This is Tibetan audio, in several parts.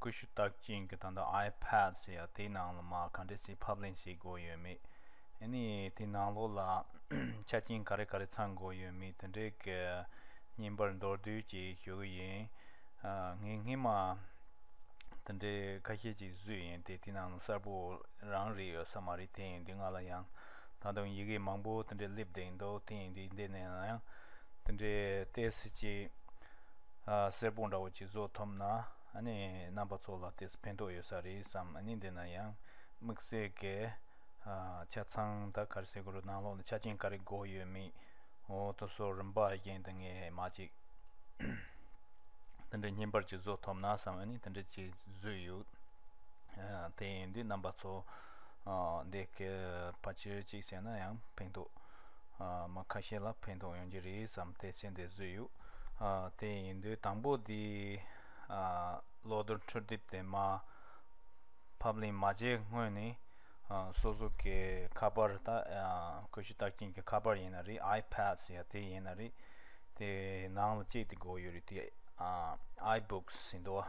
ཀུ་ཤུ་བཏགས་ཅིང་གི་ད་ལྟ iPad ཞེས་ཡ་དེའི་ནང་ལ་མ་ག་འདྲེ་ཞིག་ཕབ་ལེན་བྱེད་དགོས་ཡོད་མེད་ཨེ་ནི་དེའི་ནང་ལོགས་ལ་ཆ་རྐྱེན་ག་རེ་ག་རེ་ཚང་དགོས་ཡོད་མེད་དེ་འདྲའི་གི་བརྙན་པར་མདོར་བསྡུས་ཀྱིས་ཞུ་གི་ཡིན་ངས་སྔས་མ་དེ་འདྲའི་ཁ་ཤས་ཅིག་བཟོས་ཡིན་དེ་དེའི་ནང་ལ་གསར་པོ་རང་རེད་ཡོད་ས་མ་རེད་དེ་ཡིན་དུས་ང་ལ་ཡང་ད་དུང་ཡི་གེ་མང་པོ་དེ་འདྲའི་སླེབས་བསྡད་འདུག་དེ་ཡིན་དུས་འདི་ནས་ཡང་དེ་འདྲའི་བལྟས་ཟིན་ཅིག། གསེར་སྦུག་འདྲ་བོ་གཅིག་བཟོ་ཐུབ་ན་ནི་རྣམ་པ་ཚོ་ལ་དེས་ཕན་ཐོགས་ཡོད་ས་རེད་བསམ་ནི་འདི་ན་ཡང་དམིགས་བསལ་གྱི་ཆ་ཚང་དང་ཁར་སེ་གུ་རུ་ནང་ལོགས་ནས་ཆ་རྐྱེན་ག་རེ་དགོས་ཡོད་མེད་འོ་དོ་སོ་རིམ་པ་བཞིན་དུ་ངས་མ་ཅིག་དེ་འདྲའི་སྙན་པར་གཅིག་བཟོ་ཐུབ་ན་བསམ་ནི་དེ་འདྲའི་གཅིག་བཟོས་ཡོད་དེ་ཡིན་དུས་རྣམ་པ་ཚོ་འདི་གའི་ཕ་ཆེར་གཅིག་བྱས་ན་ཡང་ཕན་ཐོགས་མ་ཁ་ཤས་ལ་ཕན་ཐོགས་ཡོང་གྱི་རེད་བསམ་སྟེ་མཆན་དེ་བཟོས་ཡོད། དེ་ཡིན་དུས་དང་པོ་དེ་གློག་རྡུལ་འཕྲུལ་དེབ་དེ་མ་ཕབ་ལེན་མ་བྱས་སྔོན་ནས་སོ་སོ་གའི་ཁ་པར་ད་ཀུ་ཤུ་རྟགས་ཅན་གྱི་ཁ་པར་ཡིན་ན་རེད I've pass ཡ་དེ་ཡིན་ན་རེད་དེ་ནང་ལ་ཅིག་དེ་འགོག་ཡོད་རེད་དེ I've books ཟེར་འདུག་བ།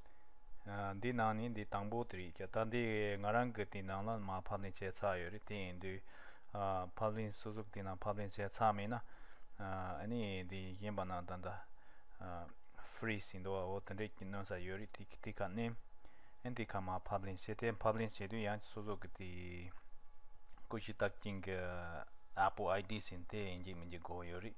འདི་ནང་ནས་འདི་དང་པོ་དེ་རེད་ཀྱ་ད་འདི་ང་རང་གི་དེ་ནང་ལ་མ་ཕབ་ལེན་བྱས་ཚར་ཡོད་རེད་དེ་ཡིན་དུས་ཕབ་ལེན་སོ་སོ་གི་དེ་ནང་ཕབ་ལེན་བྱས་ཚར་མེད་ན་ཨཱནི་འདི་གཞན་པ་ནང་ད་ད Freeze ཡིན་འདུག་བ་འོ་དེ་འདྲས་ཀྱི་གནོན་ས་ཡོད་རེད་དེ་དེ་ག་ནས་ཨཱནི་དེ་ག་མ་ཕབ་ལེན་བྱས་དེ་ཕབ་ལེན་བྱས་དུས་ཡང་སོ་སོ་གི་དེ་ཀུ་ཤི་བཏགས་ཅིང་གི Apple ID ཟིན་དེ་ཡིན་གྱི་མིན་གྱི་དགོས་ཡོད་རེད།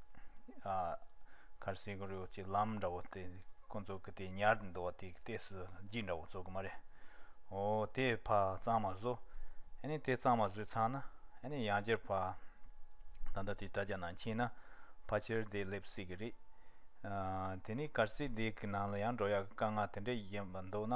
ཁར་སེ་གོ་རེའུ་ཅི་ལམ་འདྲ་བོ་དེ་ཁོ་ཚོ་གི་དེ་ཉར་འདུག་བ་དེ་གཏད་སུ་བརྗིད་འདྲ་བོ་བཙོག་གི་མ་རེད། ཨོ་དེ་ཕ་གཙང་མ་བཟོ། ཨེ་ནས་དེ་གཙང་མ་བཟོས་ཚང་ན་ཨེ་ནས་ཡང་བསྐྱར་ཕ། ད་ལྟ་དེ་དྲ་རྒྱ་ནང་ཕྱིན་ན་ཕ་ཕྱིར་བདེ་སླེབས་སྲིད་གི་རེད། དེ་ནས་ཁར་སེ་དེ་གི་ནང་ལ་ཡང་འགྲོ་ཡག་གི་དཀའ་ངལ་དེ་འདྲས་ཡིན་པ་འདུག་ན།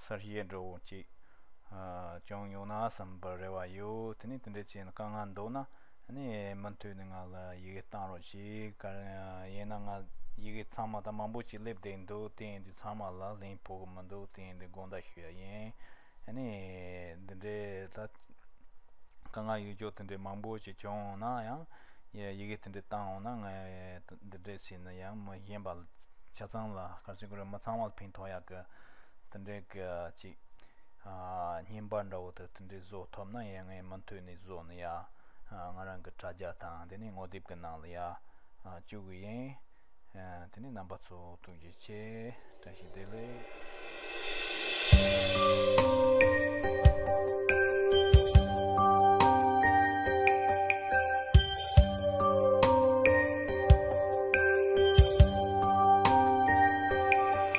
གསར་བཤད་འགྲོ་འོང་ཅིག་ཀྱང་ཉོ་ན་བསམ་པར་རེ་བ་ཡོད་དེ་ནས་དེ་འདྲའི་ཆེད་དཀའ་ངལ་འདུག་ན་ནི་མུ་མཐུད་ནས་ང་ལ་ཡི་གེ་བཏང་རོགས་ཅིག་ག་ཡིན་ན་ང་ཡི་གེ་ཚང་མ་དང་མང་པོ་ཅིག་སླེབས་བསྡད་འདུག་དེ་ཡིན་དུས་ཚང་མ་ལ་ལེན་ཕོག་གི་མི་འདུག་དེ་ཡིན་དུས་དགོངས་དག་ཞུ་ཡ་ཡིན་ནི་འདི་འདྲའི་ད་དཀའ་ངལ་ཡོད་ཅོག་དེ་འདྲའི་མང་པོ་ཅིག་བྱུང་འོང་ན་ཡང་ཡི་གེ་དེ་འདྲའི་བཏང་འོང་ན་ང་འདི་འདྲའི་ཆེད་ནི་ཡང་མི་གཞན་པ་ཆ་ཚང་ལ་ག་ཚོད་ཀྱི་རིན་མི་ཚང་མ་ལ་ཕན་ཐོག་ཡག་གི། དེ་འདྲའི་སྐད་ཅིག། སྙན་པ་འདྲ་བོ་དེ་དེ་འདྲའི་བཟོ་ཐོབ་ན་ཡང་ངས་མུ་མཐུད་ནས་བཟོ་ནི་ཡ། ང་རང་གི་དྲ་རྒྱ་དང་དེ་ནས་ངོ་དེབ་ཀྱི་ནང་ལ་ཡ། བཅུག་གི་ཡིན། དེ་ནས་རྣམ་པ་ཚོ་ཐུགས་རྗེ་ཆེ། བཀྲ་ཤིས་བདེ་ལེགས།